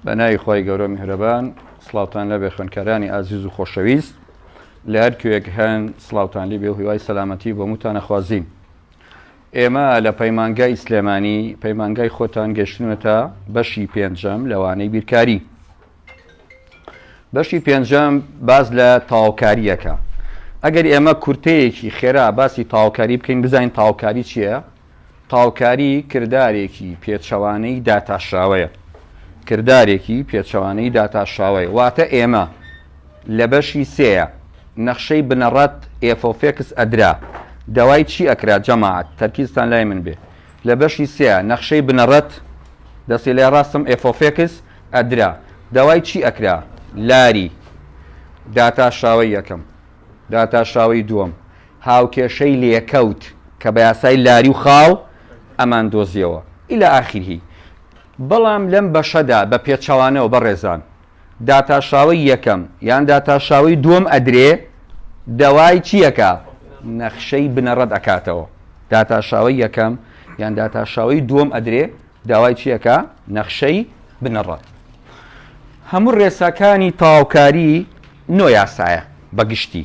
بەناوی خی گەورە میهرەبان سڵاوتان لەبێ خوێنکارانی ئازیز و خۆشەویست لە هەر کوێک هەن سڵاوتان لی بێ و هیوای سەلامەتی بۆ موتانە خوازین ئێمە لە پەیمانگای سلێمانی پەیمانگای خۆتان گەشتنوێتە بەشی پێنجەم لەوانەی بیرکاری بەشی پێنجەم باز لە تاوکاریەکە ئەگەر ئێمە کورتەیەکی خێرا باسی تاوکاری بکەین بزانین تاوکاری چییە؟ تاڵکاری کردارێکی پێچەوانەی داتاشراوەیە کردارێکی پێچەوانەی داتاشراوەیە واتە ئێمە لە بەشی سێە نەخشەی بنەڕەت ئێفۆفێکس ئەدرا داوای چی ئەکرا جەماعەت تەرکیزتان لای من بێ لە بەشی سێە نەخشەی بنەڕەت دەستی لای ڕاستم ئێفۆفێکس ئەدرا داوای چی ئەکرا لاری داتاشراوەی یەکەم داتاشراوەی دووەم هاوکێشەی لێکەوت کە بە یاسای لاری و خاڵ ئەمان دۆزیەوە الی اخره بەڵام لەم بەشەدا بە پێچەوانەوە بەڕێزان داتاشاوەی یەکەم یان داتاشاوەی دووەم ئەدرێ دەوای چیەکا نەخشەی بنەڕەت ئەکاتەوە داتاشاوەی یەکەم یان داتاشاوەی دووەم ئەدرێ داوای چیەکە نەخشەی بنەڕەت هەموو ڕێساکانی تاوکاری نۆ یاسایە بەگشتی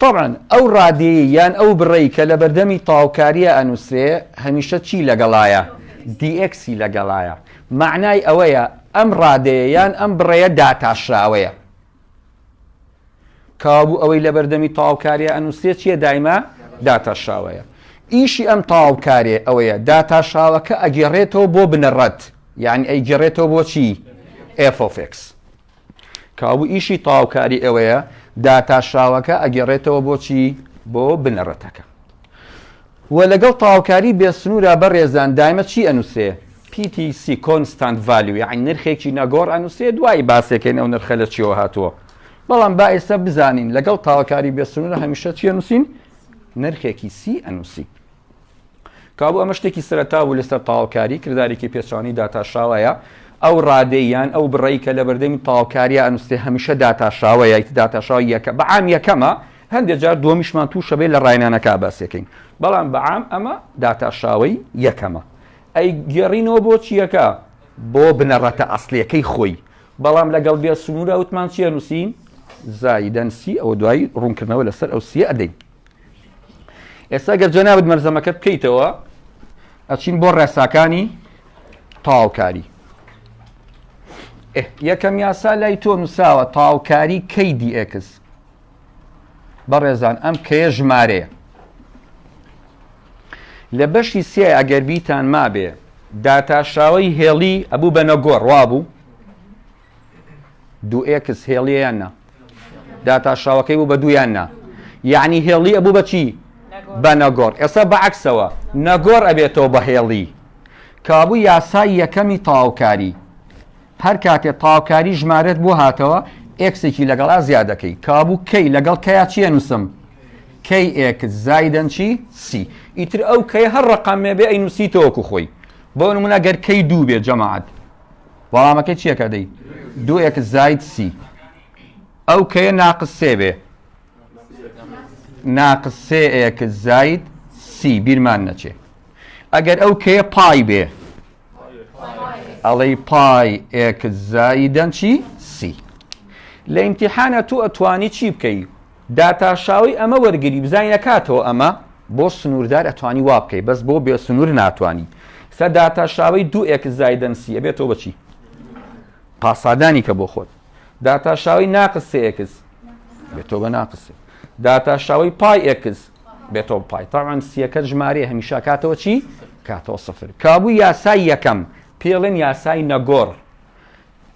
تەبعەن ئەو ڕادەیەی یان ئەو بڕەی کە لە بەردەمی تەواوکارییە ئەنووسرێ هەمیشە چی لەگەڵایە؟ dx ی لەگەڵایە. مەعنای ئەوەیە ئەم ڕادەیە یان ئەم بڕەیە داتاشراوەیە. کەوابوو ئەوەی لە بەردەمی تەواوکارییە ئەنووسرێ چییە دایمە؟ داتاشراوەیە. ئیشی ئەم تەواوکارێ ئەوەیە داتاشاوەکە ئەگێڕێتەوە بۆ بنەڕەت یانی ئەیگێڕێتەوە بۆ چی؟ f of x. کابو ئیشی تەواوکاری ئێوەیە داتاشاوەکە ئەگەڕێتەوە بۆچی بۆ بنەڕەتەکە و لەگەڵ تاوکاری بێسنوورە بەڕێزان دایمە چی ئەنووسێ PTC کۆنستانت ڤالیوی عین نرخێکی نەگۆڕ ئەنووسێ دوایی باسێکەکەین ئەو نرخە لە چیەوە هاتووە بەڵام با ئێستا بزانین لەگەڵ تاوکاری بێسنوورە هەمیشە چیە نووسین نرخێکی سی ئەنووسی کابوو ئەمە شتێکی سەرەتا بوو لەسەر تاوکاری کردارێکی پێچانی داتاشاوەیە ئەو ڕادەی یان ئەو بڕی کە لە بەردەمی تاوکاریە ئەنووسێ هەمیشە داتاشاوە یایت داتاشاو یەکە بەعام یەکەمە هەندێک جار دومیشمان تووشەبێ لە ڕاینانەکە باسەکەین بەڵام بەعام ئەمە داتاشاوی یەکەمە ئەی گێڕینەوە بۆ چیەکە بۆ بنەڕەتە ئەسلەکەی خۆی بەڵام لەگەڵ بێ سنوورە وتمان چیە نووسین زایدەنسی ئەو دوایی ڕوونکردنەوە لەسەر ئەو سیە ئەدەین ئێستا گەر جەنابت مەرزەمەکە بکەیتەوە ئەچین بۆ ڕێساکانی تاوکاری یەکەم یاسا لای تۆ نووساوە تاوکاری کەی دیئکس بەڕێزان ئەم کەیە ژمارەیە لە بەشی سێ ئەگەر بیتان مابێ داتاشاوی هێڵی ئەبوو بە نەگۆڕ وابوو دوو ئێکس هێڵیە یان نا داتاشاوەکەی بوو بە دوویان نا یعنی هێڵی ئەبوو بەچی بە نەگۆڕ ئێستا بەعکسەوە نەگۆر ئەبێتەوە بە هێڵی کابوو یاسای یەکەمی تاوکاری هەر کاتێ تاوکاری ژمارەت بۆ هاتەوە ئێکسێکی لەگەڵا زیادەکەی کابوو کەی لەگەڵ کەیا چیە نووسم کەی ئێکس زایدەن چی سی ئیتر ئەو کەی هەر ڕقامێ بێ ئەی نووسیتەوەکو خۆی بۆ نمونە گەر کەی دوو بێ جەماعات وەڵامەکەی چیەکە دەی دوو ئێک زایت سی ئەو کەیە ناقس سێ بێ ناقس سێ ئێک زایت سی بیرمان نەچێ ئەگەر ئەو کەیە پای بێ ئەڵەی پای ئێک زایدەن چی سی لە ئیمتیحانە تو ئەتوانی چی بکەی داتاشاوی ئەمە وەرگری بزانین ئەکاتەوە ئەمە بۆ سنوردار ئەتوانی وابکەی بەس بۆ بێ سنور ناتوانی سە داتاشاوی دوو ئێکس زایدەن سی ئەبێتەوە بەچی پاسادانی کە بۆ خۆت داتاشاوی ناقس سێ ئێکس بێتەوە بە ناقسێ داتاشاوی پای ئێکس بێتەوە پای تاوان سیەکە ژمارە هەمیشا کاتەوە چی کاتەوە سفر کابوو یاسای یەکەم پێڵێن یاسای نەگۆڕ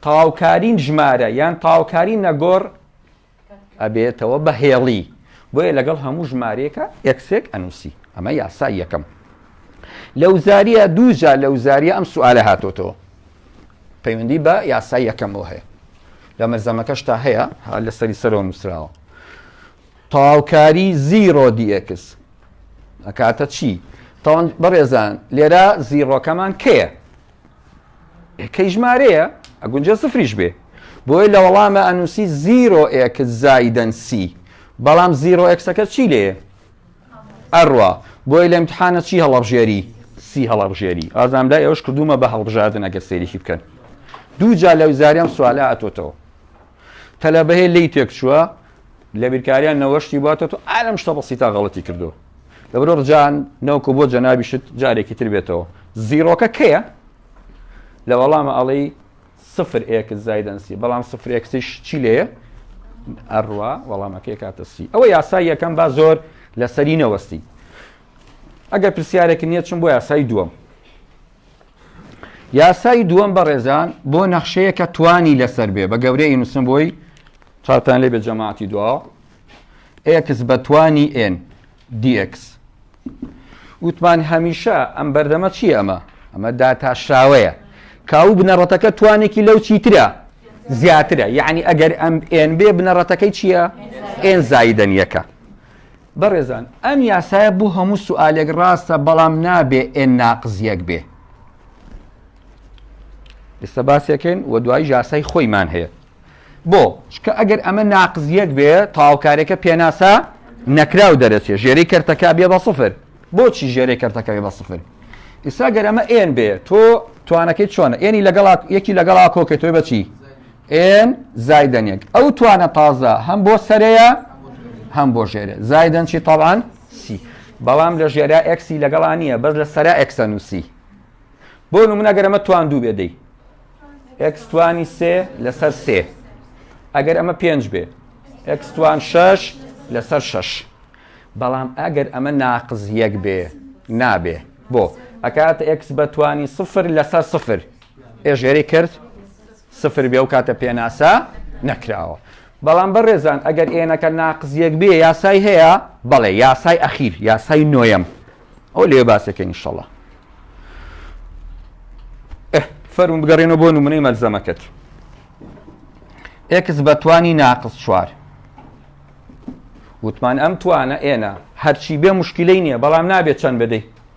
تاوکارین ژمارە یان تاوکاری نەگۆڕ ئەبێتەوە بە هێڵی بۆیە لەگەڵ هەموو ژمارەیەکە ئێکسێک ئەنووسی ئەمە یاسای یەکەم لەو زاریە دووجا لەو زاریە ئەم سوالە هاتۆتەوە پەیوەندی بە یاسای یەکەمەوە هەیە لە مەرزەمەکەش تا هەیە لە سەری سەرەوە نووسراوە تاوکاری زیرۆ دیئکس ئەکاتە چی تاوان بەڕێزان لێرە زیڕۆکەمان کەیە کەی ژمارەیە ئەگونجێ سفریش بێ بۆیە لە وەڵامە ئەنووسی زیرۆ ئێکس زایدەن سی بەڵام زیرۆ ئێکسەکە چی لێ ئەڕوا بۆی لە امتحانە چی هەڵەبژێری سی هەڵەبژێری ئازام لای ئەوش کردومە بە هەڵبژاردن ئەگەر سێریکی بکەن دوو جا لە وزاریان سوالە ئەتۆتەوە تەلەبەێ لێی تێک چووە لە بیرکاریان نەوە شتی باتە تۆ ئالم شتە بەسی تا غەڵەتی کردو دەبرۆ ڕجان نەوکو بۆ جەنابیشت جارێکی تر بێتەوە زیرۆکە کەیە لە وەڵامە ئەڵی سفر ئێکس زایدەنسی بەڵام سفر ئێکسیش چی لێە ئەڕوا وەڵامەکەی کاتەسی ئەوە یاسای یەکەم با زۆر لەسەری نەوەستی ئەگەر پرسیارێکی نییە چم بۆ یاسای دووەم یاسای دووەم بەڕێزان بۆ نەخشەیە کە توانی لەسەر بێ بە گەورەی نووسم بۆی چاوتان لێ بە جەماعتی دوا ئێکس بە توانی ئێن دیکس وتمان هەمیشە ئەم بەردەمە چی ئەمە ئەمە داتاشراوەیە کاو بنەڕەتەکە توانێکی لەو چیترە زیاترە یعنی ئەگەر ئەم ئێن بێ بنەڕەتەکەی چییە؟ ئێن زایدەنیەکە بەڕێزان ئەم یاسایە بو هەموو سوالێک ڕاستە بەڵام نابێ ئێ ناقز یەک بێ ئێستا باسێکن و دوای یاسای خۆیمان هەیە بۆ چکە ئەگەر ئەمە ناقز یەک بێ تاوکارێکە پێناسە نەکراو دەرەچێ ژێری کەرتەکە بێ بە سفر بۆچی ژێری کەرتەکە بێ بە سفر ئیسا گەرەمە ئێن بێ تۆ توانەکەی چۆنە ئێنی لەگەڵ یەکی لەگەڵا کۆکێتۆی بەچی ئێن زایدەن یەک ئەو توانە تازە هەم بۆ سەرەیە هەم بۆ ژێرە زایدەن چی تاوان سی بەڵام لە ژێرا ئەکسی لەگەڵا نییە بەس لە سەرا ئەکسە نووسی بۆ نمونەگەرەمە توان دوو بێدەی ئەکسوانی سێ لەسەر سێ ئەگەر ئەمە پێنج بێ ئەکسوان شەش لەسەر شەش بەڵام ئەگەر ئەمە ناقز یەک بێ نابێ بۆ ئەکات ئەکس بەتوانی سفر لەسەر سفر ئێژێری کرد سفر بێ ئەو کاتە پێناسە نەکراوە. بەڵام بەڕێزان ئەگەر ئێنەکە ناقس یەک بێ یاسای هەیە؟ بەڵێ یاسای ئەخیر یاسای نۆیەم ئەو لێ باسەکە نیشەڵە فەرون بگەڕێنەوە بۆ نمونەی مەلزەمەکەت ئێکس بەتوانی ناقس چوار وتمان ئەم توانە ئێنە هەرچی بێ مشکلەی نییە بەڵام نابێت چەند بدەیت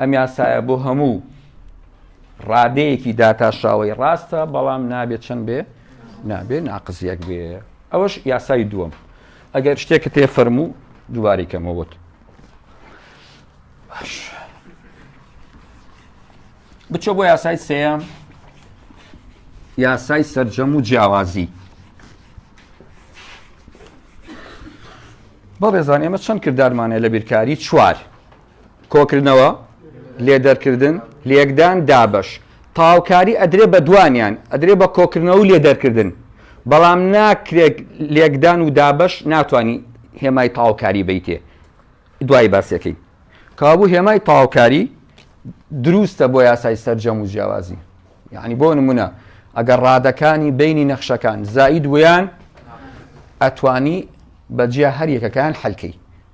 ئەم یاسایە بۆ هەموو ڕادەیەکی داتاشاوەی ڕاستە بەڵام نابێت چەند بێ نابێ ناقزیەک بێ ئەوەش یاسای دووەم ئەگەر شتێکە تێ فەرموو دووباری کەمەوەت باش بچۆ بۆ یاسای سێم یاسای سرجەم و جیاوازی بەڵێزان ئێمە چەند کردارمانە لە بیرکاری چوار کۆکردنەوە، لێدەرکردن، لێکدان، دابەش. تەواوکاری ئەدرێ بە دوانیان، ئەدرێ بە کۆکردنەوە و لێدەرکردن، بەڵام ناکرێ لێکدان و دابەش ناتوانی هێمای تەواوکاری بیتێ، دوایی باسی ئەکەین. کەوابوو هێمای تەواوکاری دروستە بۆ یاسای سەرجەم و جیاوازی. یەعنی بۆ نموونە ئەگەر ڕادەکانی بەینی نەخشەکان زائید بوویان ئەتوانی بە جیا هەر یەکەکەیان حەل کەی.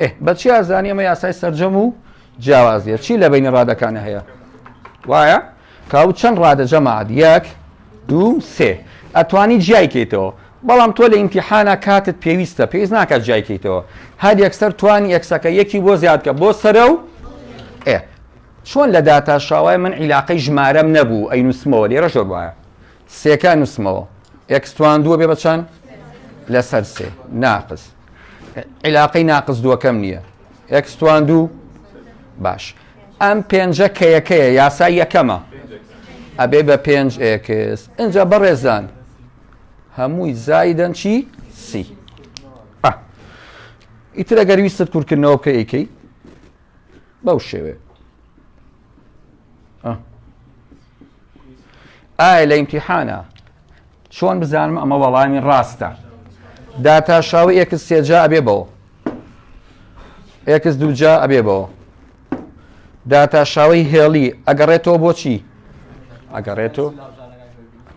ئێ بەچی ئازانی ئەمە یاسای سرجەم و جیاوازیە چی لە بینی ڕادەکانە هەیە وایە کاو چەند ڕادە جەماعات یەک دوو سێ ئەتوانی جیایکەیتەوە بەڵام تۆ لە ئیمتیحانە کاتت پێویستە پێویست ناکات جیایکەیتەوە هەر یەکسەر توانی یەکسەکە یەکی بۆ زیادکە بۆ سرە و ئێ چۆن لە داتا شاوای من عیلاقەی ژمارەم نەبوو ئەی نووسمەوە لێرە شۆر وایە سێکە نووسمەوە ئەکسوان دووە بێ بەچەند لەسەر سێ ناقز عیلاقەی ناقس دووەکەم نییە ئێکس توان دوو باش ئەم پێنجە کەیەکەیە یاسای یەکەمە ئەبێ بە پێنج ئێکس ئەجا بەڕێزان هەمووی زایدەن چی سی ئیتر ئەگەر ویستت کورکردنەوە بکە ئەیکەی بەو شێوێ ئایا لە ئیمتیحانە چۆن بزانم ئەمە وەڵامی ڕاستە داتاشاوی ئێکس سێجا ئەبێ بەوە ئێکس دووجا ئەبێ بەوە داتاشاوی هێڵی ئەگەڕێتەوە بۆچی ئەگەڕێتەوە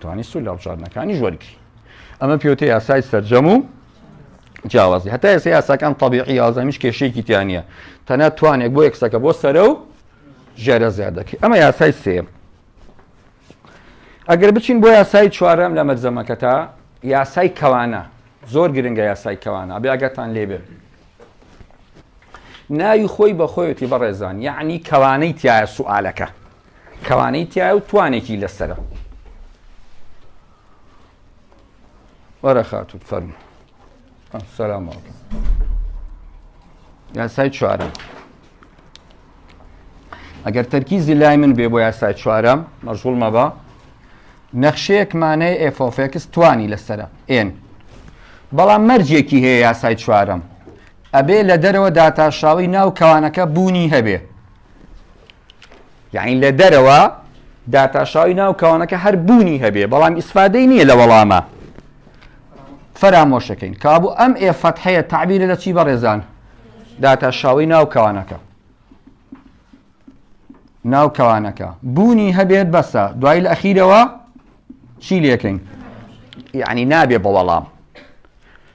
توانی سول لە بژاردنەکانی ژوەرگری ئەمە پێوتە یاسای سەرجەم و جیاوازی هەتا ئێستا یاساکان تەبیعی یازەمیش کێشەیەکی تیا نیە تەنە توانێک بۆ یەکسەکە بۆ سەرە و ژێرە زیاد دەکەی ئەمە یاسای سێم ئەگەر بچین بۆ یاسای چوارەم لە مەرزەمەکە تا یاسای کەوانە زۆر گرنگە یاسای کەوانە بێگەتان لێبێ ناوی خۆی بەخۆیەتی بەڕێزان یعنی کەوانەی تایە سوالەکە کەوانەی تیایە و توانێکی لەسەرە وەرە خاتوو فەرموو سلام یاسای چوارم ئەگەر تەرکیزی لای من بێ بۆ یاسای چوارم مەژغول مەبە نەخشەیەکمانەی ئێفۆفێکس توانی لەسرە ئێن بەڵام مەرجێکی هەیە یاسای چوارم ئەبێ لە دەرەوە داتاشاوی ناو کەوانەکە بوونی هەبێ یەعنی لە دەرەوە داتاشاوی ناو کەوانەکە هەر بوونی هەبێ بەڵام ئیسفادەی نییە لە وەڵامە فەرامۆشەکەین کابوو ئەم ئێ فەتحەیە تعبیرە لە چی بەڕێزان داتاشاوی ناو کەوانەکە ناو کەوانەکە بوونی هەبێت بەسە دوای لە ئەخیرەوە چی لەکەین یعنی نابێ بە وەڵام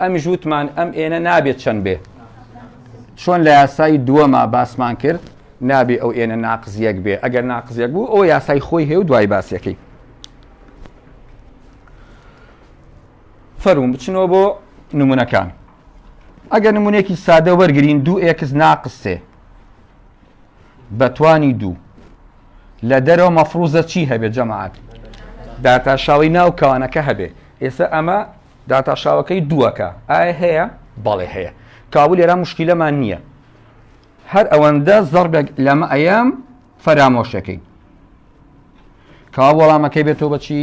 ئەمیش وتمان ئەم ئێنە نابێت چەند بێ چۆن لە یاسایی دووەما باسمان کرد نابێ ئەو ئێنە ناقزیەک بێ ئەگەر ناقزیەک بوو ئەو یاسای خۆی هێو دوای باسیەکەی فەرمون بچنەوە بۆ نمونونەکان ئەگەر نمونونێکی سادە وەرگین دوو ئێکس ناقسێ بەتوانی دوو لە دەرەوە مەفروزە چی هەبێت جەماعات داتاشاوی ناو کەوانەکە هەبێ ئێستا ئەمە داتاشاوەکەی دووەکە ئایا هەیە؟ بەڵێ هەیە کابو لێرا مشکیلەمان نییە هەر ئەوەندە زەربێک لەمە ئەیام فەرامۆشەکەی کا وەڵامەکەی بێتەوە بەچی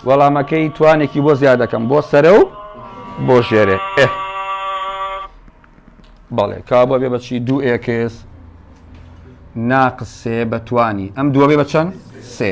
وەڵامەکەی توانێکی بۆ زیاد دەکەم بۆ سەرە و بۆ ژێرێ ئێ بەڵێ کا بۆ بێ بەچی دوو ئێکس ناقسێ بەتوانی ئەم دووە بێ بە چەند سێ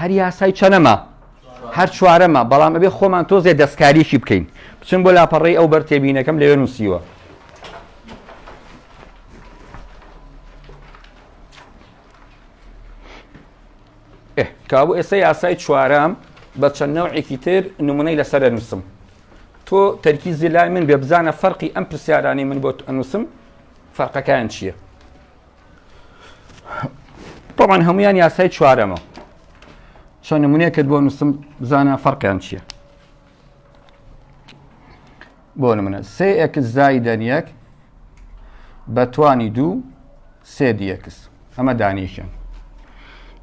هەر یاسای چەنەما هەر چوارەمە بەڵام ئەبێ خۆمان تۆزێ دەستکاریکی بکەین بچم بۆ لاپەڕی ئەو بەر تێبینەکەم لەوێ نووسیوە کابوو ئێستا یاسای چوارەم بە چەند نەوعێکی تر نمونەی لەسەر نووسم تۆ تەرکی زیلای من بێ بزانە فەرقی ئەم پرسیارانی من بۆ ئەنووسم فەرقەکان چییە؟ طبعا هەمویان یاسای چوارەمە چۆن نمونەیەکت بۆ نووسم بزانە فەرقیان چییە بۆ نمونە سێ ئەکس زایدەن یەک بە توانی دوو سێ دیەکس ئەمە دانیشن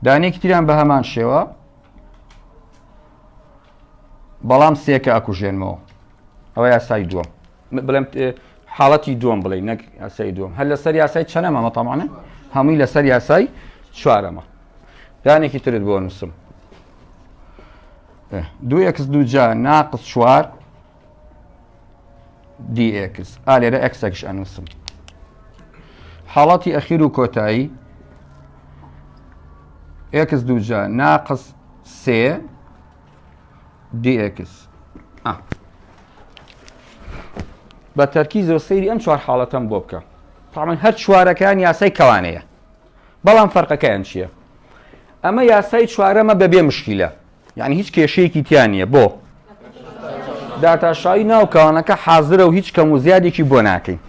دانێکی تیران بە هەمان شێوە بەڵام سێکە ئەکوژێنمەوە ئەوە یاسای دووە بڵێم حاڵەتی دووەم بڵێ نەک یاسای دووەم هەر لەسەر یاسای چەنەمەمە تەمانە هەمووی لەسەر یاسای چوارەمە دانێکی ترت بۆ نووسم دو ئکس دوجا ناقص چوار دیکس ئا لێرە ئەکسەکش ئەنووسم حاڵەتی ئەخیر و کۆتایی ئکس دوجا ناقص سێ dx بە تەرکیزەوە سەیری ئەم چوار حاڵەتەم بۆ بکە تاڵن هەر چوارەکان یاسای کەوانەیە بەڵام فەرقەکەیان چییە ئەمە یاسای چوارەمە بەبێ مشکیلە یعنی هیچ کێشەیەکی تیان نییە بۆ داتاشایی ناو کەوانەکە حازرە و هیچ کەم و زیادێکی بۆ ناکەین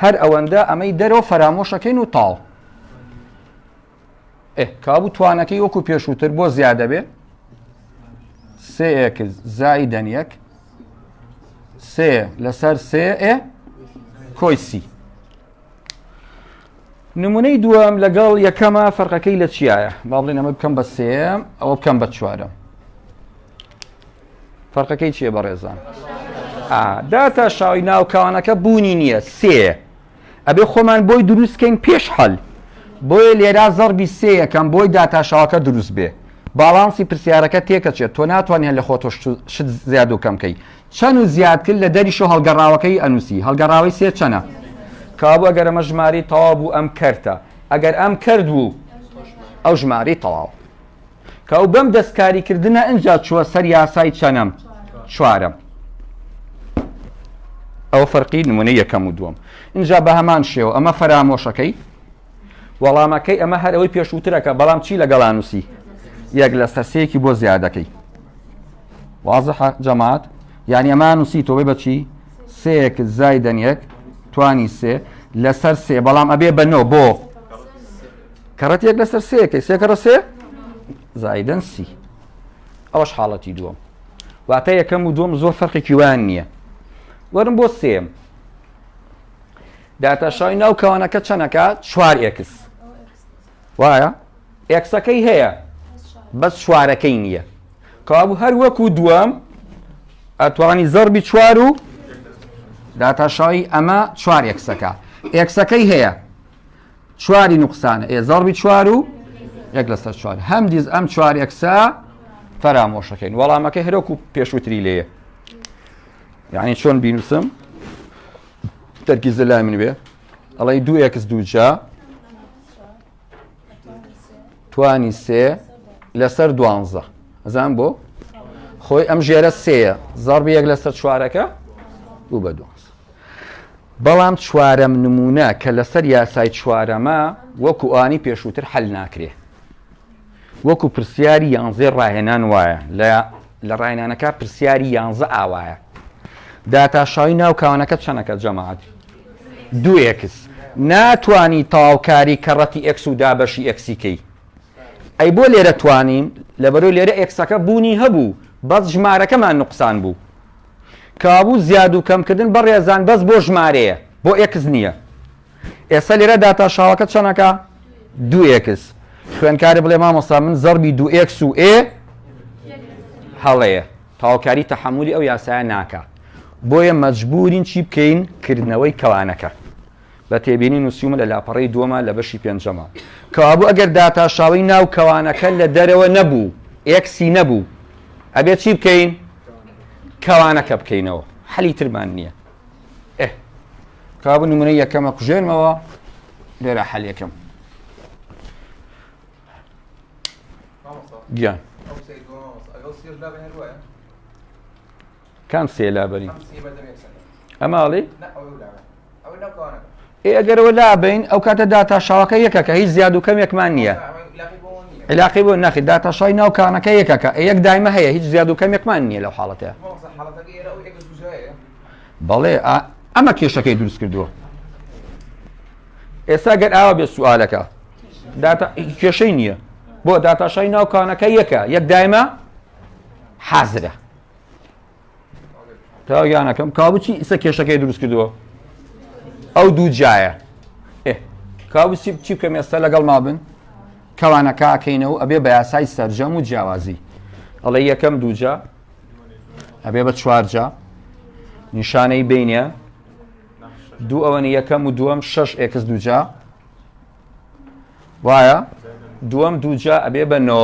هەر ئەوەندە ئەمەی دەرەوە فەرامۆشەکەین و تاڵ ئێ کابوو توانەکەی وەکو پێشووتر بۆ زیادە بێ سێ ئێکس زایدەن یەک سێ لەسەر سێ ئێ کۆی سی نمونەی دووەم لەگەڵ یەکەمە فەرقەکەی لە چیایە با بڵێن ئەمە بکەم بە سێم ئەوە بکەم بە چوارم فەرقەکەی چیە بەڕێزان داتا شاوی ناوکانەکە بوونی نییە سێ ئەبێ خۆمان بۆی دروست کەین پێش حەل بۆیە لێرا زەڕبی سێ یەکەم بۆی داتاشاوەکە دروست بێ باڵانسی پرسیارەکە تێکەچێت تۆ ناتوانێت لە خۆتۆ شت زیاد و کەم کەی چەند و زیادکرد لە دەریش و هەڵگەڕاوەکەی ئەنووسی هەڵگەڕاوی سێ چەنە کابوو ئەگەر ئەمە ژماری تەواو بوو ئەم کەرتە ئەگەر ئەم کرد بوو ئەو ژماری تەواو کە ئەو بەم دەستکاریکردنە ئەجا چووە سەر یاسای چەنەم چوارەم ئەو فەرقی نمونە یەکەم و دووەم اینجا بە هەمان شێوە ئەمە فەرامۆشەکەی وەڵامەکەی ئەمە هەر ئەوەی پێشووترەکە بەڵام چی لەگەڵانوسی یەک لە سەرسەیەکی بۆ زیادەکەی واضح جەماعات یعنی ئەمان نووسی تۆی بەچی سێک زایدەن یەک توانی سێ لەسەر سێ بەڵام ئەبێ بەنەوە بۆ کەڕەت یەک لەسەر سێەکەی سێکەڕە سێ زایدن سی ئەوەش حاڵەتی دووەم واتە یەکەم و دوم زۆر فەرقێکی وان نییە وەرم بۆ سێم داتاشای ناو کەوانەکە چەنەکە چوار ئێکس وایە ئێکسەکەی هەیە بەس چوارەکەی نییە کابوو هەر وەکو دووەم ئەتوانی زەربی چوار و داتاشایی ئەمە چوار ئێکسەکە ئێکسەکەی هەیە چواری نوقسانە ئێ زەڕبی چوار و یەک لەسەر چوار هەمدیز ئەم چوار ئەکسا فەرامۆشەکەین وەڵامەکە هەرۆک و پێشوتری لێە یعنی چۆن بینوسم تەرکی زلای من بێ ئەڵی دوو ئەکس دووجا توانی سێ لەسەر دوانزە ئەزان بۆ خۆی ئەم ژێرە سەیە زەڕبی یەک لەسەر چوارەکە بوو بە دوانزە بەڵام چوارەم نمونە کە لەسەر یاسای چوارەمە وەکو ئانی پێشووتر حل ناکرێ وەکو پرسیاری یانزێ ڕاهێنان وایە لە لە ڕاهێنانەکە پرسیاری یانزە ئاوایە داتاشاوی ناو کاوانەکە چەنەکە جەماعات دو ئێکس ناتانی تاوکاری کەڕەتی ئەکس و دابەشی ئەکسیکەی ئەی بۆ لێرە توانیم لەبەرو لێرە ئێکسەکە بوونی هەبوو بەس ژمارەکەمان نقصان بوو کەوابوو زیاد و کەم کردن بەڕێزان بەس بۆ ژمارەیە بۆ ئێکس نییە ئێستا لێرە داتا شاڵەکە چەنەکە دو ئێکس خوێنکاری بڵێ مامۆستا من زەربی دو ئێکس و ئێ هەڵەیە تاوکاری تەحملی ئەو یاسایە ناکە بۆیە مەجبورین چی بکەین کردنەوەی کەوانەکە بە تێبینی نووسیومە لە لاپەڕی دووەمە لە بەشی پێنجەمە کەوابوو ئەگەر داتا شاوی ناو کەوانەکە لە دەرەوە نەبوو ئێکسی نەبوو ئەبێت چی بکەین کەوانەکە بکەینەوە حەلی ترمان نییە ئێ کابوو نمونە یەکەمە کوژێنمەوە لێرە حەل یەکەم گیان کام سێلا بەری ئەماڵی ئێ ئەگەر ئەوە لابین ئەو کاتە داتاشاوەکە یەکەکە هیچ زیاد و کەمێکمان نییە علاقی بۆ ناخی داتاشای ناو کانەکە یەکەکە یەک دایمە هەیە هیچ زیاد و کەمێکمان نییە لەو حاڵەتە بەڵێ ئەمە کێشەکەی دروست کردووە ئێستا گەر ئاوا بێ سوالەکە کێشەی نییە بۆ داتاشای ناوکانەکە یەکە یەک دایمە حازرە تاگیانەکەم کابچی ئیسە کێشەکەی دروست کردووە ئەو دوو جایە کابچی بچی بکەم ئێستا لەگەڵ ما بن کەوانە کاکەینەوە ئەبێ بە یاسای سەرجەم و جیاوازی ئەڵێ یەکەم دووجا ئەبێ بە چوارجا نیشانەی بینە دوو ئەوەنی یەکەم و دووەم شش ئێکس دووجا وایە دووەم دووجا ئەبێ بە نۆ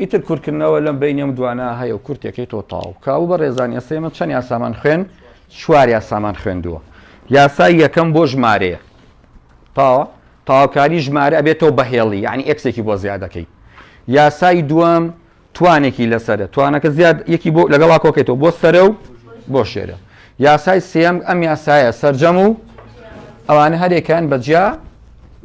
ئیتر کورتکردنەوە لەم بەینی ئەم دوانە هەیە و کورتێکی تۆ تاو کاو بە ڕێزان ئێستا ئێمە چەند یاسامان خوێن چوار یاسامان خوێندووە یاسای یەکەم بۆ ژمارەیە تاوە تاوکاری ژمارە ئەبێتەوە بەهێڵی یعنی ئەکسێکی بۆ زیادەکەی یاسای دووەم توانێکی لەسرە توانەکە زیاد یەکی بۆ لەگەڵا کۆکێتەوە بۆ سرە و بۆ شێرە یاسای سێم ئەم یاسایە سرجەم و ئەوانە هەرێکان بەجیا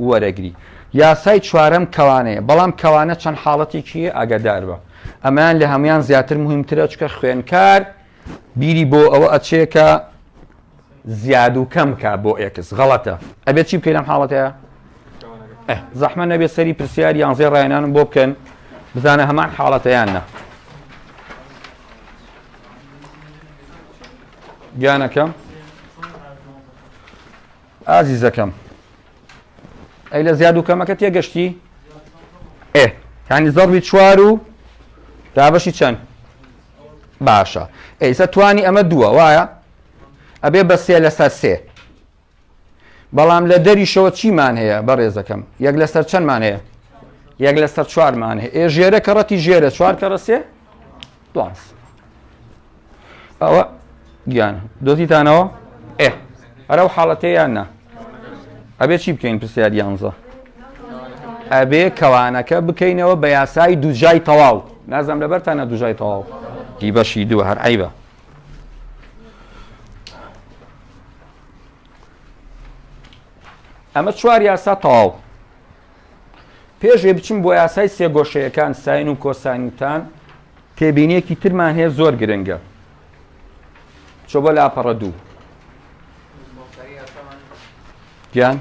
وەرەگری. یاسای چوارەم کەوانەیە، بەڵام کەوانە چەند حاڵەتێکی هەیە ئاگاداربە ئەمەیان لە هەموان زیاتر موهیمترە چکە خوێنکار بیری بۆ ئەوە ئەچێ کە زیاد و کەم کا بۆ ئێکس غەڵەتە ئەبێت چی بکەین لەم حاڵەتەیە زەحمە نەبێ سەری پرسیار یان زێ ڕایەنانم بۆ بکەن بزانە هەمان حاڵەتەیان نە گیانەکەم ئازیزەکەم ئەی لە زیاد و کەمەکە تێگەشتی؟ ئێ یعنی زەڕوی چوار و دابەشی چەند باشە ئەیسە توانی ئەمە دووە وایە ئەبێ بە سێ لەسەر سێ بەڵام لە دەریشەوە چیمان هەیە بە ڕێزەکەم یەک لەسەر چەندمان هەیە یەک لەسەر چوارمان هەیە ئێ ژێرە کەڕەتی ژێرە چوار کەڕە سێ دواز ئەوە گیان دۆزیتانەوە ئێ ئەرە و حاڵەتەیان نا ئەبێ چی بکەین پرسیار یانزە ئەبێ کەوانەکە بکەینەوە بە یاسایی دوجای تەواو نازم لەبەرتانە دوژای تەواو دی بەشی دووە هەر عیبە ئەمە چوار یاسا تەواو پێش ئەوەی بچین بۆ یاسای سێگۆشەیەکان، ساین و کۆساین و تان، تێبینییەکی ترمان هەیە زۆر گرنگە. چۆ بۆ لاپەڕە دوو. گیان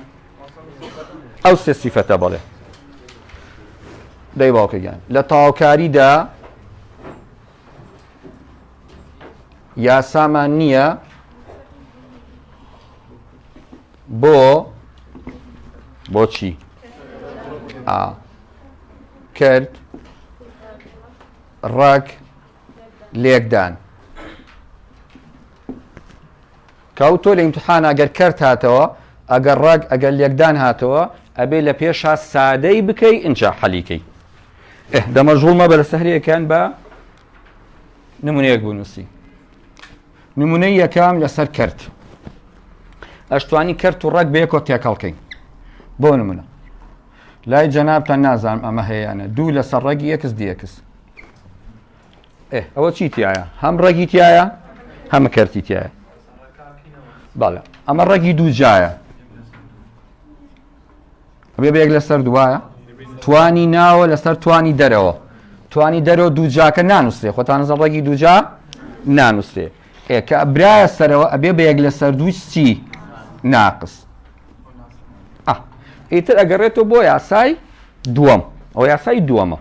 ئەو سێ سیفەتە بەڵێ دەی باوکە گیان لە تاوکاریدا یاسامان نییە بۆ بۆچی ئا کرد ڕەگ لێکدان کاو تۆ لە امتحان ئەگەر کەرت هاتەوە ئەگەر ڕەگ ئەگەر لێکدان هاتەوە ئەبێ لە پێشا سادەی بکەی ئینجا حەلیکەی دەمەژوڵمە بەرە سەهرەکان بە نمونەیەک بوو نووسی نمونەی یەکەم لەسەر کرد ئەشتوانی کرد و ڕەگ بەیەکۆ تێکەڵکەین بۆ نمونە لای جەنابتان نازانم ئەمە هەیەیانە دوو لەسەر ڕەگی یەکس دیەکس ئەوە چی تایە هەم ڕەگی تایە هەمە کەرتی تایە بەڵێ ئەمە ڕەگی دوو جایە بێ بە یەک لەسەر دوایە توانی ناوە لەسەر توانی دەرەوە توانی دەرەوە دووجاکە نانووسێ خۆتانزە ڕێگی دووجا نانووسێ ئێکە برایە سەرەوە ئەبێ بە یەک لەسەر دووچی ناقس ئیتر ئەگەڕێتەوە بۆ یاسای دووەم ئەو یاسای دووەمە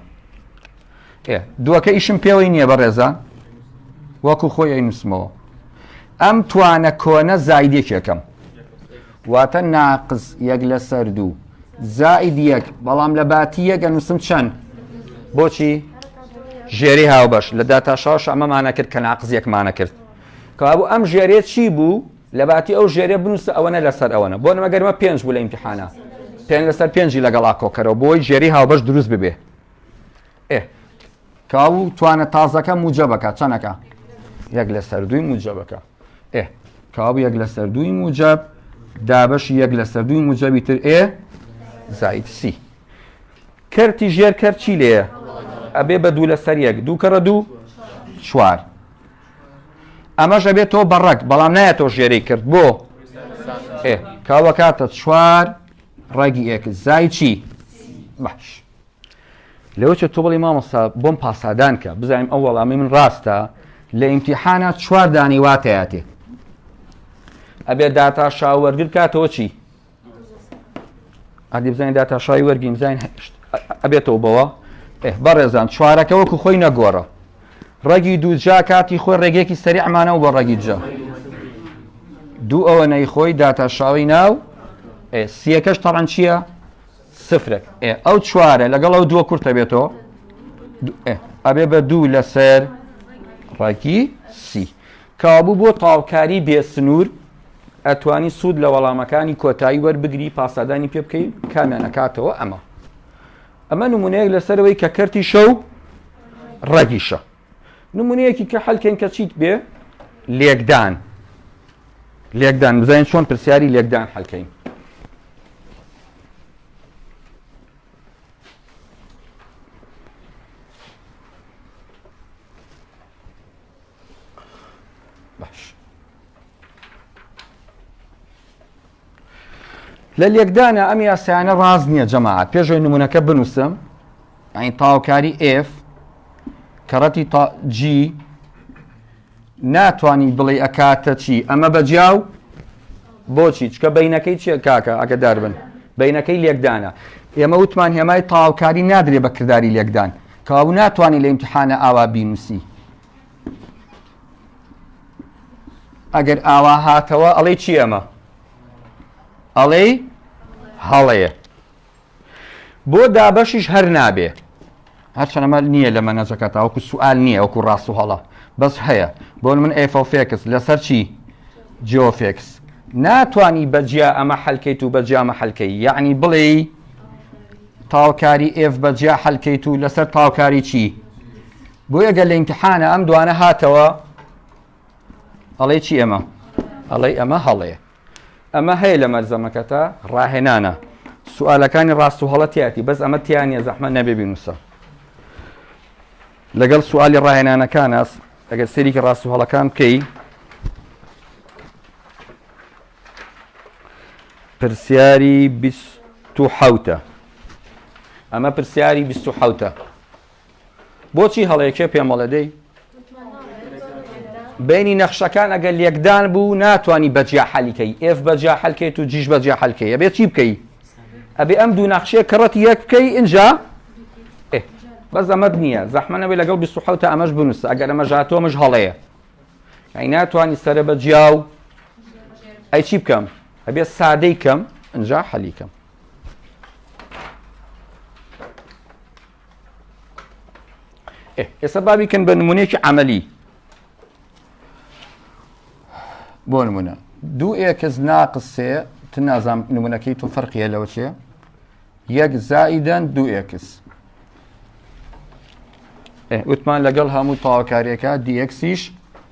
دووەکە ئیشم پێوەی نییە بە ڕێزە وەکو خۆی ئەی نووسمەوە ئەم توانە کۆنە زایدێکێکم واتە ناقس یەک لەسەر دوو زائید یەک بەڵام لە باتی یەک ئەنووسم چەند بۆچی ژێری هاوبەش لە داتا شاش ئەمەمانە کرد کە ناقز یەکمانە کرد کەوابوو ئەم ژێرێ چی بوو لە باتی ئەو ژێرە بنووسە ئەوەنە لەسەر ئەوەنە بۆ نەمەگەرمە پێنج بوو لە ئیمتحانە پێ لەسەر پێنجی لەگەڵا کۆکەرەوە بۆی ژێری هاوبەش دروست ببێ ئێ کاو توانە تازەکە موجە بکە چەنەکە یەک لەسەر دووی موجە بکە ئێ کابوو یەک لەسەر دووی موجب دابش یەک لەسەر دووی موجبی تر ئێ زایت سی کەرتی ژێر کەر چی لێ ئەبێ بە دوو لەسەر یەک دوو کەڕە دوو چوار ئەمەش ئەبێت تۆ بەڕەک بەڵام نایە تۆ ژێری کرد بۆ ئێ کاوە کاتە چوار ڕێگی ئێک زای چی باش لەوە چێ تۆ بڵێ مامۆستا بۆم پاسادان کە بزانیم ئەو وەڵامی من ڕاستە لە ئیمتیحانە چوار دانی واتەیاتێ ئەبێ داتا شا وەرگر کاتەوە چی ئەدی بزانین داتا شای وەرگی بزانین هەشت ئەبێتەوە بەوە بەڕێزان چوارەکە وەکو خۆی نەگۆڕە ڕەگی دووجا کاتی خۆی ڕێگەیەکی سەریعمانەوە بۆ ڕەگی جا دوو ئەوە نەی خۆی داتا شاوی ناو سیەکەش تەڕەن چییە؟ سفرێک ئێ ئەو چوارە لەگەڵ ئەو دووە کورتە بێتەوە ئەبێ بە دوو لەسەر ڕێکی سی کابوو بۆ تاڵکاری بێ سنوور ئەتوانی سوود لە وەڵامەکانی کۆتایی وەربگری پاسادانی پێ بکەین کامیان ئەکاتەوە ئەمە ئەمە نمونەیەک لەسەرەوەی کە کەرتی شەو ڕەگیشە نمونەیەکی کە حەلکەین کە چیت بێ لێکدان لێکدان بزانین چۆن پرسیاری لێکدان حەلکەین لە لێکدانە ئەم یاسایانە ڕاست نییە جەماعات پێشەوەی نمونونەکە بنووسم ئەین تاوکاری F کەڕەتی تا G ناتانی بڵێ ئەکاتە چی ئەمە بەجیاو بۆچی چکە بینەکەی چیە کاکە ئەگە داربن بینەکەی لێکدانە ئێمە وتمان هێمای تاوکاری نادرێ بە کردداری لێکدان کەوا ناتوانانی لە امتحانە ئاوا بینوسی ئەگەر ئاوا هاتەوە ئەڵێ چی ئەمە ئەڵێ هەڵەیە بۆ دابەشیش هەر نابێ هەرچەنەمە نییە لە مەنەجەکە تاوەکو سوال نییە وەکو ڕاست و هەڵە بەس هەیە بۆ من ئەفۆفێکس لەسەر چی جۆفێکس ناتانی بەجیا ئەمە حەلکەیت و بەجامە حەلکەی یعنی بڵێ تاوکاری ئێف بەجیا حەلکەیت و لەسەر تاوکاری چی؟ بۆیە گەر لە ئیمتحانە ئەم دوانە هاتەوە ئەڵێ چی ئەمە ئەڵێ ئەمە هەڵەیە ئەمە هەیە لە مەرزەمەکەتە ڕاهێنانە سوالەکانی ڕاست و هەڵەتیاتی بەس ئەمە تیانە زەحمە نەبێ بینوسە لەگەڵ سوالی ڕاهێنانەکان ئەس ئەگەر سەریکی ڕاست و هەڵەکان بکەی پرسیاری حوتە ئەمە پرسیاری حوتە بۆچی هەڵەیە کێ پێم وڵێ دەی بینی نەخشەکان ئەگەر لێکدان بوو ناتانی بەجیا حەلیکەی ئێف بەجیا حەلکەیت و جیش بەجیا حەلکەیە بێت چی بکەی ئەبێ ئەم دوو نەخشێ کڕەت یەک بکەی ئینجا بە زەمەت نییە زەحمەەوەی لەگەڵ 1970 ئەمەش بنووسە ئەگەر ئەمە ژاتۆمش هەڵەیە ئەی ناتوانانی سرە بە جیا و ئەی چی بکەم ئەبێ سادەی کەم ئەجا حەلیکەم ئێستا بابی کەن بە نمونەیەکی عملی بۆ نمونە دوو ئێکس ناقسێ ت نازام نمونونەکەی تۆ فەرقیە لەوە چێ یەک زائیدەن دوو ئێکس وتمان لەگەڵ هەموو تاواکاریەکە دیەکسیش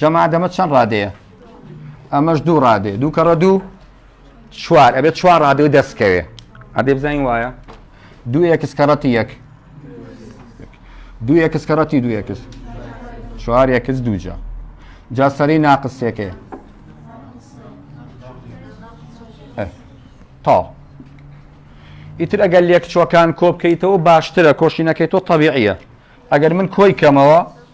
جەمادەمە چەند ڕادەیە ئەمەش دوو ڕادێ دوو کەڕە دوو چوار ئەبێت چوار ڕادێ دەستکەوێ ئەبێ بزانین وایە دوو یەکس کەڕەتی یەک دوو یەکس کەڕەتی دوو یەکس چوار یەکس دووجا جا سەری ناقسێکێ تا ئیتر ئەگەر لێک چۆکان کۆبکەیتەوە باشترە کۆشینەکەی تۆ طبیعیە ئەگەر من کۆی کەمەوە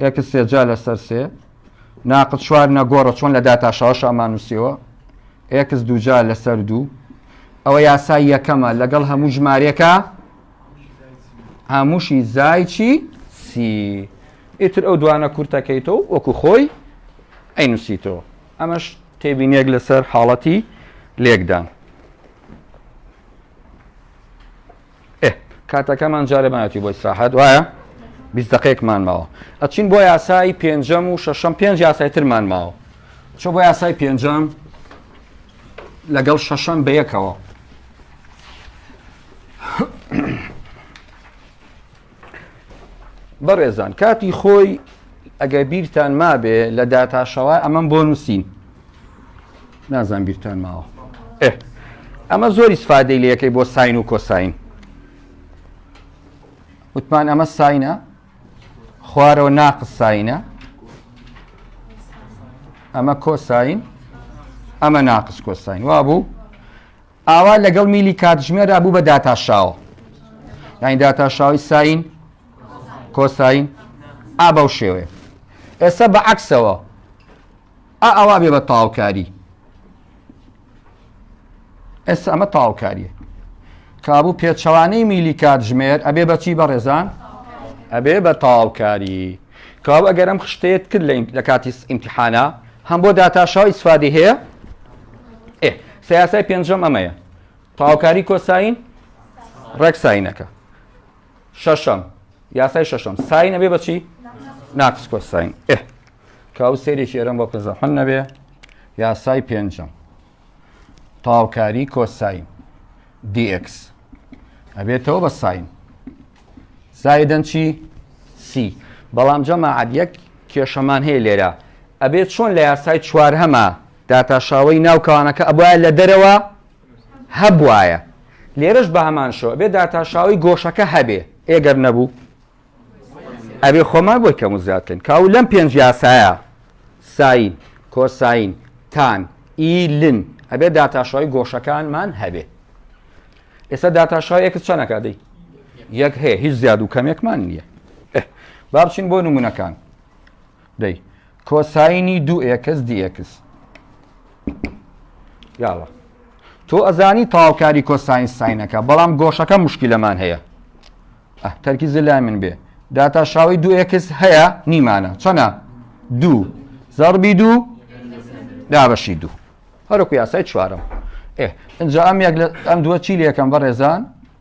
ئێکس سێ جا لەسەر سێ ناقد چوار نەگۆڕە چۆن لە داتاشەوەش ئامانوسیەوە ئێکس دووجا لەسەر دوو ئەوە یاسای یەکەمە لەگەڵ هەموو ژمارەکە هەمووشی زایچی سی ئیتر ئەو دوانە کورتەکەیتەوە وەکو خۆی ئەینوسیتەوە ئەمەش تێبینێک لەسەر حاڵەتی لێکدان ئێ کاتەکەمان جارێ مایەتی بۆ ئیسراحەت وایە بیست دقەیەکمان ماوە ئەچین بۆ یاسایی پێنجەم و شەشەم پێنج یاسای ترمان ماوە چۆ بۆ یاسای پێنجەم لەگەڵ شەشەم بەیەکەوە بەڕێزان کاتی خۆی ئەگەر بیرتان مابێ لە داتاشەوە ئەمەم بۆ نووسین نازان بیرتان ماوە ئەمە زۆری سفادەی لەکەی بۆ ساین و کۆساین وتمان ئەمە ساینە خوارەوە ناقس ساینە ئەمە کۆساین ئەمە ناقس کۆساین وا بوو ئاوا لەگەڵ میلی کاتژمێردا بوو بە داتاشاوە. یانی داتاشاوەی ساین کۆساین ئا بەو شێوەیە. ئێستا بە عەکسەوە ئا ئەوا بێ بە تاوکاری. ئێستا ئەمە تاوکاریە. کابوو پێچەوانەی میلی کاتژمێر ئەبێ بەچی بەڕێزان ئەبێ بە تاوکاری. کاو ئەگەر ئەم خشتەیە کرد لە کاتی ئیمتحانە هەم بۆ داتاشاوی سفادی هەیە سە یاسای پێنجەم ئەمەیە تەواوکاری کۆساین ڕێک ساینەکە شەشەم یاسای شەشەم ساین ئەبێ بە چی ناقص کۆساین ئێ کە ئەو سێرێکی ئێرەم بۆ کە زەحن نەبێ یاسای پێنجەم تەواوکاری کۆساین dx ئەبێتەوە بە ساین زایدەن چی سی بەڵام جەماعەت یەک کێشەمان هەیە لێرە ئەبێت چۆن لە یاسای چوار هەمە داتاشاوەی ناو کانەکە ئەبوایە لە دەرەوە هەبوایە لێرەش بە هەمان شێوە ئەبێ داتاشاوەی گۆشەکە هەبێ ئێ گەر نەبوو ئەبێ خۆمان بۆی کەم و زیاد بکەین کاو لەم پێنج یاسایە ساین کۆساین تان ئی لن ئەبێ داتاشاوی گۆشەکانمان هەبێ ئێستا داتاشاوی ئێکس چەنەکە دەی یەک هەیە هیچ زیاد و کەمێکمان نییە با بچین بۆ نمونونەکان دەی کۆساینی دوو ئێکس دی ئێکس یاڵە تۆ ئەزانی تاوکاری کۆساین ساینەکە بەڵام گۆشەکە مشکلەمان هەیە ئەه تەرکی زلای من بێ داتا شاوی دوو ئێکس هەیە نیمانە چەنە دوو زەربی دوو دابەشی دوو هەرکو یاسای چوارم ئێ ئەجا ئەم یەک لە ئەم دووە چی لەکەم بەڕێزان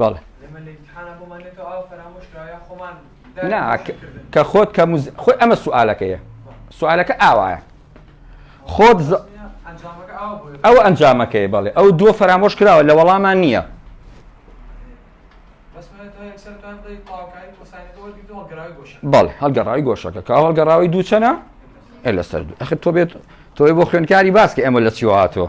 بەڵێ کە خۆت کە خۆی ئەمە سوالەکەیە سوالەکە ئاوایە خۆت ئەو ئەنجامەکەی بەڵێ ئەو دووە فەرامۆش کراوە لە وەڵامان نییە بەڵێ هەڵگەڕاوی گۆشەکە کا هەڵگەڕاوی دووچەنە لەسەر ئەخر تۆ بێت تۆی بۆ خوێنکاری باسکە ئەمە لە چیوهاتەوە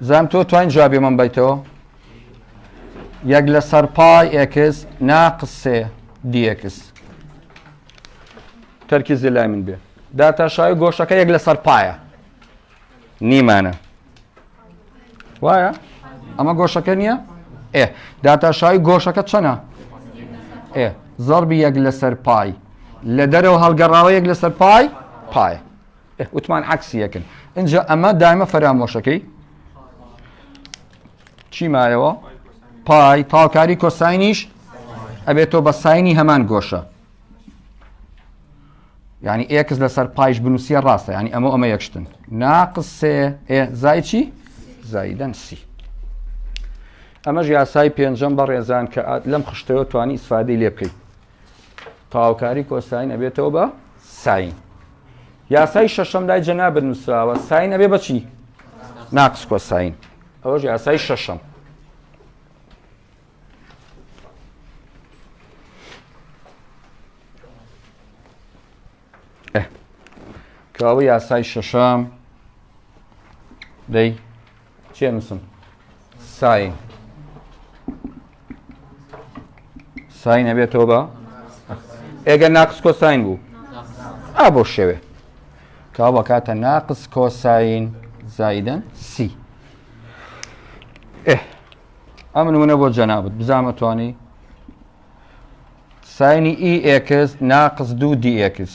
زانم تۆ توین جوابی من بیتەوە یەک لە سەر پای ئێکس ناقس سێ دیێکس تەرکیزی لای من بێ داتاشاوی گۆشەکە یەک لەسەر پایە نیمانە وایە ئەمە گۆشەکە نییە ئێ داتاشاوی گۆشەکە چەنە ئێ زەربی یەک لەسەر پای لە دەرەوە هەڵگەڕاوە یەک لەسەر پای پایە وتمان عکسی یەکن اینجا ئەمە دایمە فەرامۆشەکەی چی مایەوە پای تاوکاری کۆساینیش ئەبێت تۆ بە ساینی هەمان گۆشە ینی ئێکس لەسەر پایش بنووسە ڕاستە ینی ئەمە ئەمە یەکشتن ناقسێ زای چی زایدەن سی ئەمەش یاسای پێنجەم بە ڕێزان کە لەم خشتەوە توانی ئیسفادی لێ بکەیت تەواوکاری کۆساین ئەبێتەوە بە ساین یاسای شەشەم لای جەنابر نووسراوە ساین ئەبێ بەچی ناقس کۆساین ئەوەش یاسای شەشەم کاوە یاسای شەشەم دەی چێ نووسم ساین ساین ئەبێتەوە بە ئێگەر ناقس کۆساین بوو ئا بۆ شێوێ کا بەکاتە ناقس کۆساین زایدن سی ئێ ئەم نمونە بۆ جەنابەت بزانمە توانی ساینی ئی ئێکس ناقس دوو دی ئێکس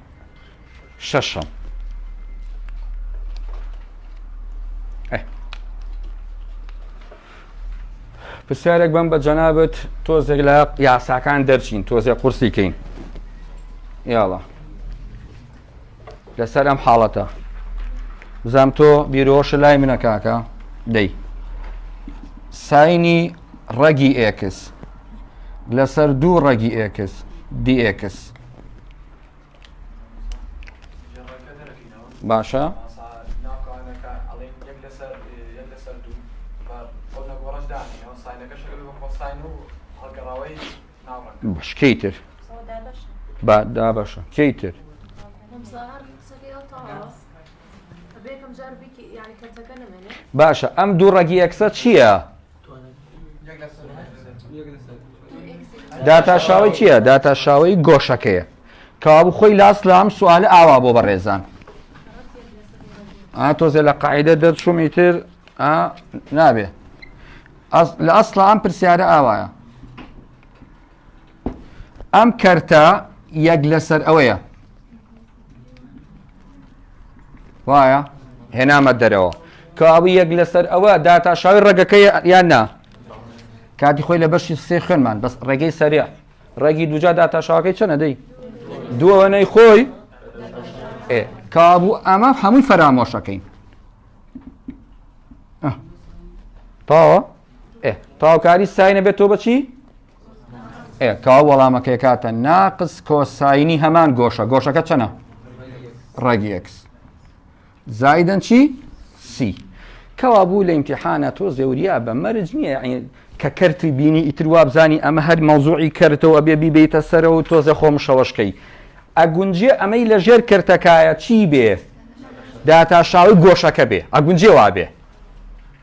شەشەم پرسیارێک بم بە جەنابەت تۆزێک لە یاساکان دەرچین تۆزێک قورسی کەین یاڵە لەسەر ئەم حاڵەتە بزام تۆ بیرۆش لای منە کاکە دەی ساینی ڕەگی ئێکس لەسەر دوو ڕەگی ئێکس دیئکس باشە شکەی تر با دابەشە کەی تر باشە ئەم دوو ڕەگی یەکسە چییە؟ داتاشاوی چییە؟ داتاشاوی گۆشەکەیە کەوابوو خۆی لاست لە ئەم سوالە ئاوا بۆ بەڕێزان تۆزێ لە قاعدە دەرچوومی تر نابێ لە ئەسڵ ئەم پرسیارە ئاوایە ئەم کەرتە یەک لەسەر ئەوەیە وایە هێنامە دەرەوە کەوابوو یەک لەسەر ئەوە داتا شاوی ڕێگەکە یان نا کاتی خۆی لە بەشی سێ خوێنمان بەس ڕێگەی سەریا ڕێگی دوجا داتا شاوەکەی چەنە دەی دووەوەنەی خۆی کابوو ئەمە هەمووی فەرامۆشەکەین تاوە ئێ تاوکاری ساینە بێت تۆ بەچی ئێ کا وەڵامەکەی کاتە ناقس کۆساینی هەمان گۆشە گۆشەکە چەنە ڕێگی ئەکس زایدن چی سی کەوا بوو لە ئیمتحانە تۆ زێوریا بە مەرج نییە کە کەرتی بینی ئیتر وابزانی ئەمە هەر مەوزوعی کردەوە ئەبێ بیبیتە سەرە و تۆزە خۆم شەوەشکەی ئەگونجێ ئەمەی لە ژێر کردەکایە چی بێ داتاشاوی گۆشەکە بێ ئەگونجێ وابێ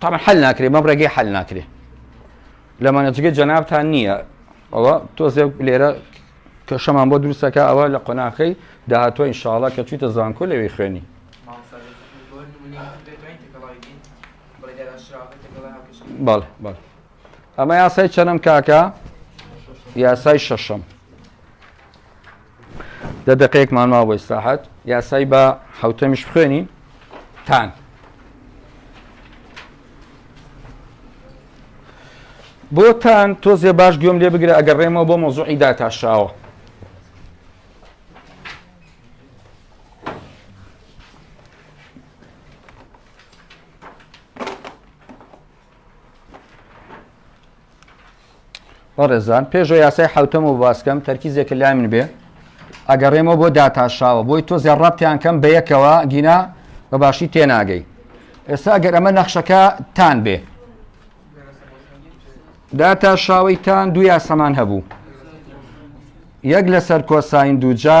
تەبعەن حەل ناکرێ بەم ڕێگەی حەل ناکرێ لە مانەجگەی جەنابتان نییە ئەوە تۆزێ لێرە کە شەمان بۆ دروستەکە ئەوە لە قۆناخەی داهاتوە ئینشاالله کە چیتە زانکۆ لەوی خوێنی بەڵێ بەڵێ ئەمە یاسای چەنم کاکە یاسای شەشەم دە دقەیەکمان ما بۆ ئیسراحەت یاسای بە حوتەمیش بخوێنی تان بۆ تان تۆزێ باش گوێم لێ بگرە ئەگەر ڕێمەوە بۆ مۆزوعی داتاشاوە بەڕێزان پێشە یاسای حوتەم و باسکەم تەرکیزێکە لای من بێ ئەگەڕێمەوە بۆ داتاشاوە بۆی تۆ زێ ڕابتیان کەم بە یەکەوە گینا بە باشی تێناگەی ئێستا گەر ئەمە نەخشەکە تان بێ داتا شاوەی تان دوو یاسەمان هەبوو یەک لەسەر کۆساین دووجا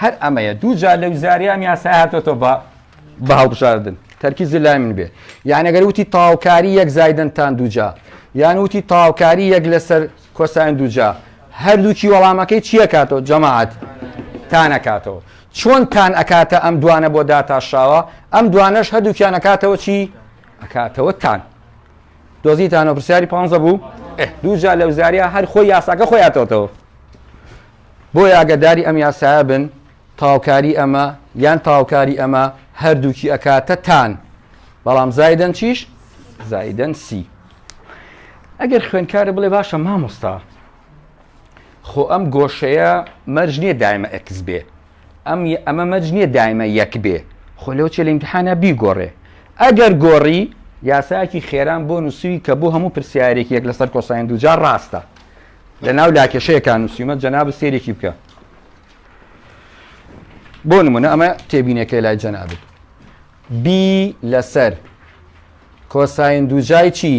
هەر ئەمەیە دوو جار لەو زاریان یاسای هاتۆتە بە بە هەڵبژاردن تەرکیزی لای من بێ یان ئەگەر وتی تاوکاری یەک زایدنتان دووجا یان وتی تاوکاری یەک لەسەر کۆسان دووجا هەردووکی وەڵامەکەی چییە کاتەوە جەماعات تانەکاتەوە چۆن تان ئەکاتە ئەم دوانە بۆ داتاشاوە ئەم دوانەش هەردووکیان ئەکاتەوە چی ئەکاتەوە تان دۆزیتانە پرسیاری پ بوو دووجا لەو زاریا هەر خۆی یاساکە خۆیاتەوەتەوە بۆیە ئاگەداری ئەم یاسایە بن تەواوکاری ئەمە یان تەواوکاری ئەمە هەردووکی ئەکاتە تان بەڵام زایدەن چیش زایدەن سی ئەگەر خوێنکارە بڵێ باشە مامۆستا خۆ ئەم گۆشەیە مەرج نییە دایمە ئەکس بێ ئەم ئەمە مەرج نییە دایمە یەک بێ خۆ لەو چێ لە امتحانە بیگۆڕێ ئەگەر گۆڕی یاساکی خێران بۆ نووسوی کە بۆ هەموو پرسیارێک یەک لەسەر کۆساین دوجار ڕاستە لەناو لاکێشەیەکان نووسیومە جەنابت سێرێکی بکە بۆ نمونە ئەمە تێبینەکەی لای جەنابت بی لەسەر کۆساین دووجای چی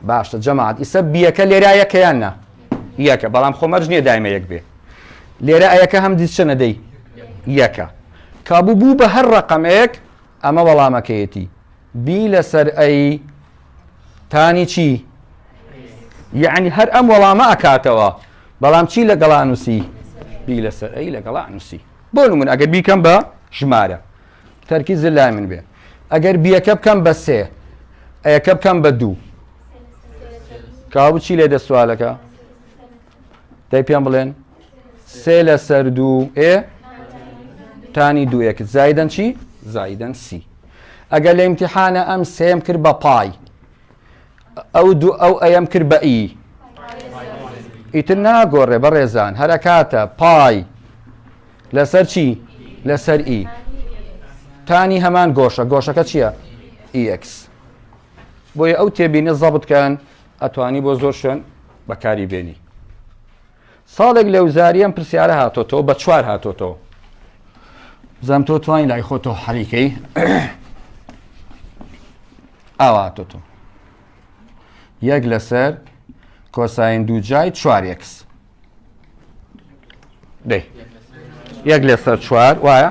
باشە جەماعات ئیسە بیەکە لێرا یەکەیان نا یەکە بەڵام خۆمەرج نییە دایمە یەک بێ لێرە ئەیەکە هەم دیچە نەدەی یەکە کابوو بوو بە هەر ڕقەمێک ئەمە وەڵامەکەیەتی بی لەسەر ئەی تانی چی یعنی هەر ئەم وەڵامە ئەکاتەوە بەڵام چی لە گەڵا نووسی بی لەسەر ئەی لە گەڵا نووسی بۆ من ئەگەر بیکەم بە ژمارە تەرکی زل لای من بێ ئەگەر بیەکە بکەم بە سێ ئەیەکە بکەم بە دوو کاوچی لێ دەسوالەکە دەی پێم بڵێن سێ لەسەر دوو ئێ تانی دووەکت زایدەن چی زایدەن سی ئەگەر لە امتحانە ئەم سێم کرد بە پای ئەو دوو ئەو ئەم کرد بە ئی ئیتر ناگۆڕێ بەڕێزان هەرەکاتە پای لەسەر چی لەسەر ئی تانی هەمان گۆشە گۆشەکە چییە؟ EX بۆیە ئەو تێبینە زەبتکەن ئەتوانی بۆ زۆر شوێن بەکاری بێنی ساڵێک لە وزاریەم پرسیارە هاتۆتەوە بە چوار هاتۆتەوە بزانام تۆ توانین لای خۆتەوە حەریکەی ئاوا هاتۆتۆ یەک لەسەر کۆساین دوو جای چوارێکس دەی یەک لەسەر چوار وایە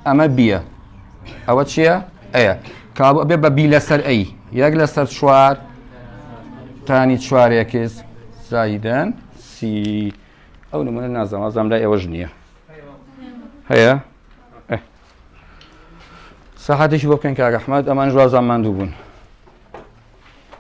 ئەمە بیە ئەوە چییە؟ ئەیە کابە بێ بە بی لەسەر ئەی یەک لەسەر چوار تانی چوارێکس زایدن سی ئەو نمونە نازەوازام لای ئێوەش نییە هەیە سەحاتێکی بۆ بکەن کاگەحمد ئەمان ژوازان ماندوو بوون